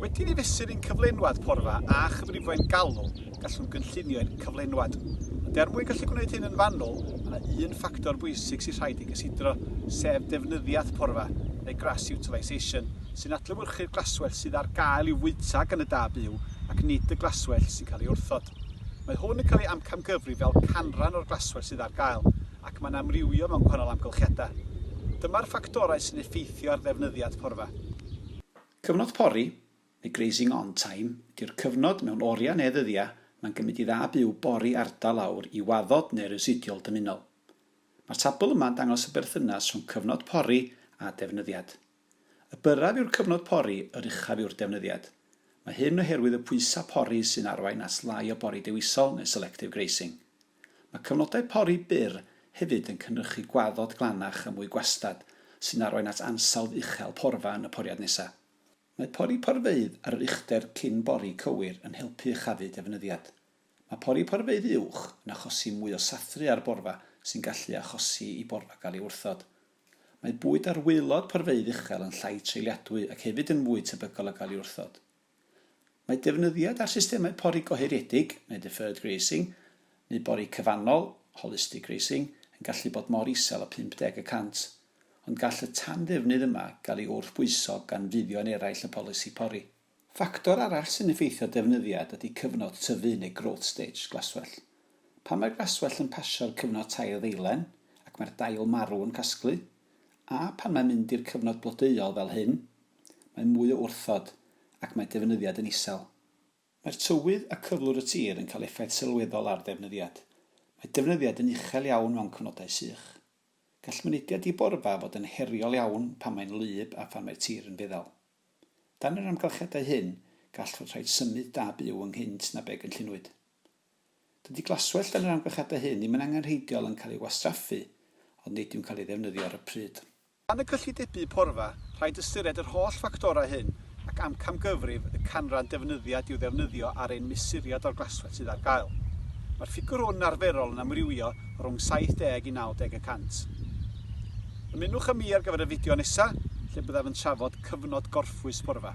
Wedi ni fesur i'n cyflenwad porfa a chyfrifoedd galw, gallwn gynllunio i'n cyflenwad. Ond er mwyn gallu gwneud hyn yn fanwl, mae yna un ffactor bwysig sy'n rhaid i gysidro, sef defnyddiaeth porfa, neu grass utilisation, sy'n adlewyrchu'r glaswellt sydd ar gael i'w fwyta gan y da byw ac nid y glaswellt sy'n cael ei wrthod. Mae hwn yn cael ei amcamgyfrif fel canran o'r glaswellt sydd ar gael, ac mae'n amrywio mewn gwahanol amgylchiadau. Dyma'r ffactorau sy'n effeithio ar ddefnyddiad porfa. Cyfnod pori, neu grazing on time, ydy'r cyfnod mewn oriau neu ddyddiau mae'n gymryd i dda byw bori ardal aur i waddod neu residiol dymunol. Mae'r tabl yma'n dangos y berthynas rhwng cyfnod pori a defnyddiad. Y byrraf yw'r cyfnod pori, yr uchaf yw'r defnyddiad. Mae hyn oherwydd y pwysau pori sy'n arwain at lai o bori dewisol neu selective grazing. Mae cyfnodau pori byr hefyd yn cynhyrchu gwaddod glanach a mwy gwastad, sy'n arwain at ansawdd uchel porfa yn y poriad nesaf. Mae pori porfeydd ar yr uchder cyn bori cywir yn helpu uchafu defnyddiad. Mae pori porfeydd uwch yn achosi mwy o sathru ar borfa sy'n gallu achosi i borfa gael ei wrthod. Mae bwyd ar waelod porfeydd uchel yn llai treuliadwy ac hefyd yn fwy tebygol o gael ei wrthod. Mae defnyddiad ar systemau pori gohiriedig, neu deferred grazing, neu bori cyfannol, holistic grazing, yn gallu bod mor isel â 50 y cant, ond gall y tanddefnydd yma gael ei wrthbwyso gan fuddion eraill y polisi pori. Ffactor arall sy'n effeithio defnyddiad ydy cyfnod tyfu neu growth stage glaswellt. Pan mae'r glaswellt yn pasio'r cyfnod tair ddeilen ac mae'r dail marw yn casglu, a phan mae'n mynd i'r cyfnod blodeuol fel hyn, mae mwy o wrthod ac mae defnyddiad yn isel. Mae'r tywydd a cyflwr y tir yn cael effaith sylweddol ar ddefnyddiad. Mae defnyddiad yn uchel iawn mewn cyfnodau sych. Gall mynediad i borfa fod yn heriol iawn pan mae'n wlyb a phan mae'r tir yn feddal. Dan yr amgylchiadau hyn, gall fod rhaid symud da byw ynghynt na be gynllunwyd. Dydy glaswellt dan yr amgylchiadau hyn ddim yn angenrheidiol yn cael ei wastraffu, ond nid yw'n cael ei ddefnyddio ar y pryd. Dan y cyllidebu porfa, rhaid ystyried yr holl ffactorau hyn ac amcamgyfrif y canran defnyddiad i'w ddefnyddio ar ein mesuriad o'r glaswellt sydd ar gael. Mae'r ffigurhwn yn arferol yn amrywio rhwng 70 i 90 y cant. Ymunwch â mi ar gyfer y fideo nesa lle byddaf yn trafod cyfnod gorffwys porfa.